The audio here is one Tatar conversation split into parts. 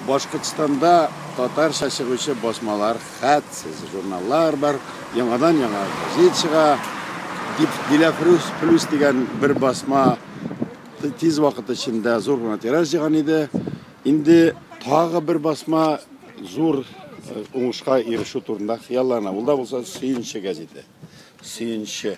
Башкортстанда татарча чыгучы басмалар, хәтсез журналлар бар, яңадан яңа газет чыга. Диләфрүз плюс дигән бер басма тиз вакыт эчендә зур гына тираж җыйган иде. Инде тагы бер басма зур э, уңышка ирешү турында хыяллана. Ул да булса Сөенче газеты. Сөенче.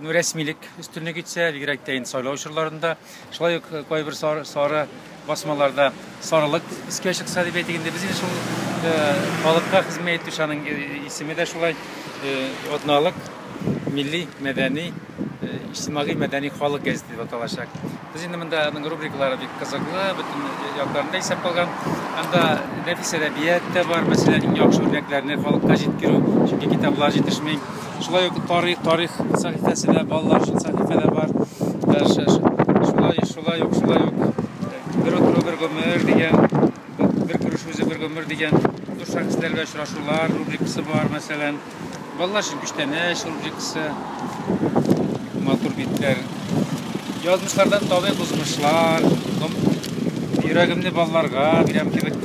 Ну, рәсмилек өстенлек итсә, бигрәк тә инде сайлау чорларында, шулай ук кайбер сары, сары басмаларда сарылык искә чыкса дип әйтик инде. Без шул халыкка хезмәт итүче аның исеме дә шулай атналык милли мәдәни иҗтимагый мәдәни халык газеты дип аталачак. Без инде монда аның рубрикалары бик кызыклы, бөтен якларында исәп калган. Анда нәфис әдәбият та бар, мәсәлән, иң яхшы үрнәкләрне халыкка җиткерү, чөнки китаплар җитешми. Шулай ук тарих, тарих сәхифәсе дә, балалар өчен сәхифәләр бар. Шулай, шулай ук, шулай ук бер утыру бер гомер дигән, бер күреш үзе бер гомер дигән зур шәхесләр белән очрашулар рубрикасы бар, мәсәлән. Балалар өчен күчтәнәч рубрикасы. Матур битләр. Язмышлардан табигый бозмышлар, йөрәгемне балаларга бирәм кебек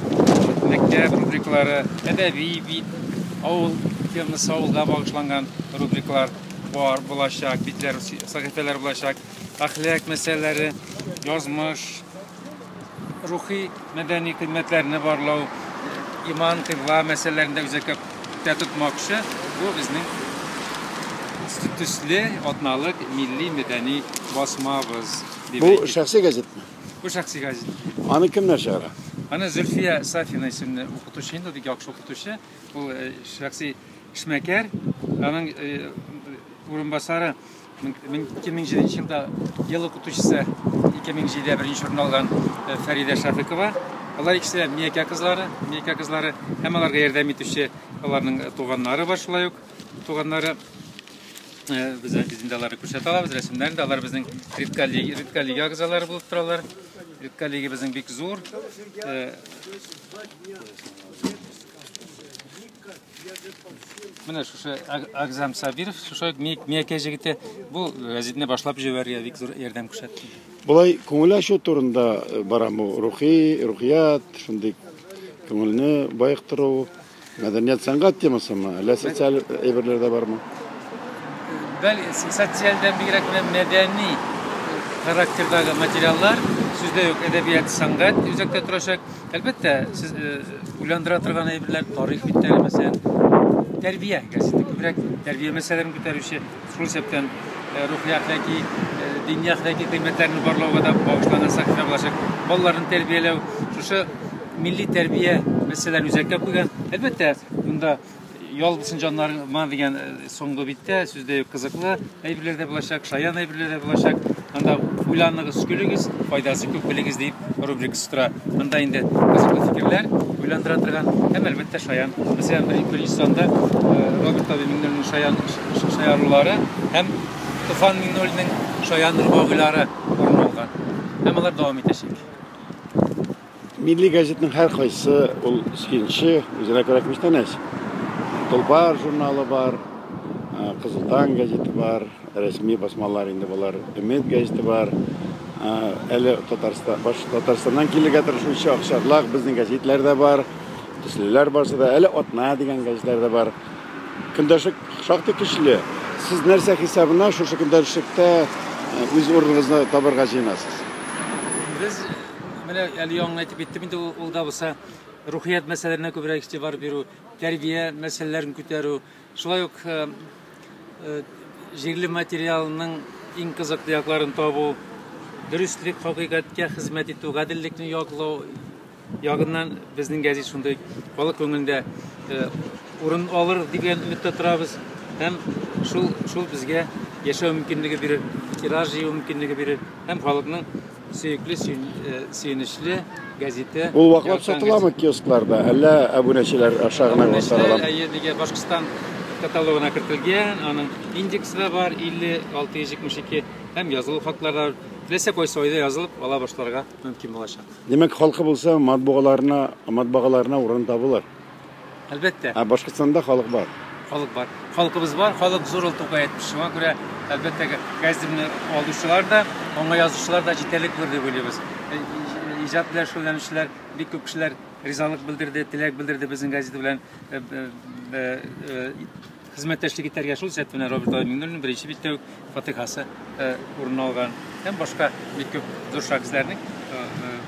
мәктәп рубрикалары, әдәби бит, Авыл темасы авылга багышланган рубрикалар бар булачак, битләр, сәхифәләр булачак. Әхлак мәсьәләләре, язмыш, рухи мәдәни кыйммәтләрне барлау, иман, кыйбла мәсьәләләрендә үзәккә күктә тотмакчы. Бу безнең төсле атналык милли мәдәни басмабыз. Бу шәхси газетме? Бу шәхси газет түгел. Аны кемнәр чыгара? Аны Зөлфия Сафина исемле укытучы инде, бик яхшы укытучы. Ул э, шәхси эшмәкәр. Аның э, урынбасары 2007 елда ел укытучысы 2007-дә беренче урын алган э, Фәридә Шәфикова. Алар икесе дә Миякә кызлары, Миякә кызлары һәм аларга ярдәм итүче аларның туганнары бар шулай ук. Туганнары Бездә без инде аларны күрсәтә алабыз, рәсемнәрен дә. Алар безнең редколлеги, редколлеги агзалары булып торалар. Редколлеги безнең бик зур. Менә шушы Агзам Сабиров, шушы Миякә җегете бу газетны башлап җибәрергә бик зур ярдәм күрсәтте. Болай күңел ачу турында барамы? Рухи, рухият, шундый күңелне баектыру. Мәдәният сәнгать темасымы, әллә социаль әйберләр дә бармы? Бәл социальдән бигрәк менә мәдәни характердагы материаллар, сүздә юк, әдәбият, сәнгать үзәктә торачак. Әлбәттә, сез э, уйландыра торган әйберләр, тарих битләре мәсәлән, тәрбия газеты күбрәк тәрбия мәсьәләләрен күтәрүче, Шул исәптән рухи әхлаки, дини әхлаки кыйммәтләрне барлауга да багышланган сәхифә булачак. Балаларны тәрбияләү, шушы милли тәрбия мәсьәләләрен үзәккә куйган. Әлбәттә, монда ял булсын җаннарыма дигән соңгы биттә сүз дә юк, кызыклы әйберләр дә булачак, шаян әйберләр дә булачак. Анда уйланыгыз, көлегез, файдасы күп белегез дип рубрикасы тора. Анда инде кызыклы фикерләр уйландыра торган һәм әлбәттә шаян. Мәсәлән, беренче санда э, Роберт Аби Миңнуллинның шаян шаярулары һәм Туфан Миңнуллинның шаян рубавилары урын алган. Һәм алар дәвам итәчәк. Милли газетның һәркайсы ул сөенче, үзенә күрә күчтәнәч. Тулпар журналы бар, Кызыл таң газеты бар, рәсми басмалар инде болар, Өмет газеты бар. Әле Татарстан, баш Татарстаннан килергә тырышучы акчарлак безнең газетлар да бар. Төслеләр барсы да, әле Атна дигән газетлар да бар. Көндәшлек шактый көчле. Сез нәрсә хисабына шушы көндәшлеккә үз урыныгызны табарга җыенасыз? Без Менә әле яңа әйтеп киттем инде ул да булса рухият мәсьәләләренә күбрәк игътибар бирү, тәрбия мәсьәләләрен күтәрү, шулай ук э, э, җирле материалның иң кызыклы якларын табу, дөреслек, хакыйкатькә хезмәт итү, гаделлекне яклау ягыннан безнең гәзит шундый халык күңелендә э, урын алыр дигән өметтә торабыз һәм шул шул безгә яшәү мөмкинлеге бирер, тираж җыю мөмкинлеге бирер һәм халыкның Сөекле, сөенечле газете. Ул ваклап сатыламы киоскларда, әллә абунәчеләр аша гына сатыламы? Әйе, диге Башкортстан каталогына кертелгән, аның индексы да бар 5672 һәм язылу хатлары теләсә кайсы айда язылып ала башларга мөмкин булачак. Димәк, халкы булса, матбугаларына, матбагаларына урын табылыр. Әлбәттә. Ә Башкортстанда халык бар. Халык бар. Халкыбыз бар, халык зур ул Тукай әйтмеш. Шуңа күрә, әлбәттә, газетны алучылар да, аңа язучылар да җитәрлек булыр дип уйлыйбыз. Э, иҗат белән шөгыльләнүчеләр, бик күп кешеләр ризалык белдерде, теләк белдерде безнең газета белән э, э, Хезмәттәшлек итәргә шул исәптән менә Роберт Алай Миңнуллинның беренче биттә үк фатыйхасы урын алган һәм башка бик күп зур шәхесләрнең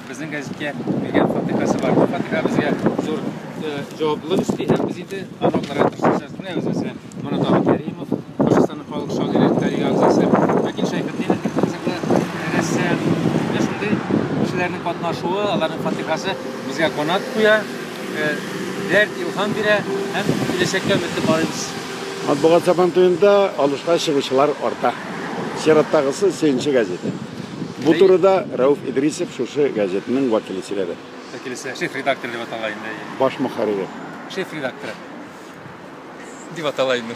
безнең газеткә биргән фатыйхасы бар. Бу фатыйха безгә зур җаваплылык өсти һәм без инде аналарга тырышачак. Менә үзебезгә Мурат Ага Кәримов, Башкортстанның халык шагыйре, тарих әгъзасы, Вәкил Шәйхетдинов бик кызыклы рәссам. Менә шундый кешеләрнең катнашуы, аларның фатыйхасы безгә канат куя. Дәрт илһам бирә һәм киләчәккә өметле карыйбыз. Матбугат сабантуенда алышка чыгучылар арта. Чираттагысы Сөенче газеты. Бу турыда Рәүф Идрисов шушы газетның вәкиле сөйләде. Вәкилесе, шеф редактор дип атала инде. Баш мөхәррире. Шеф редакторы дип атала инде.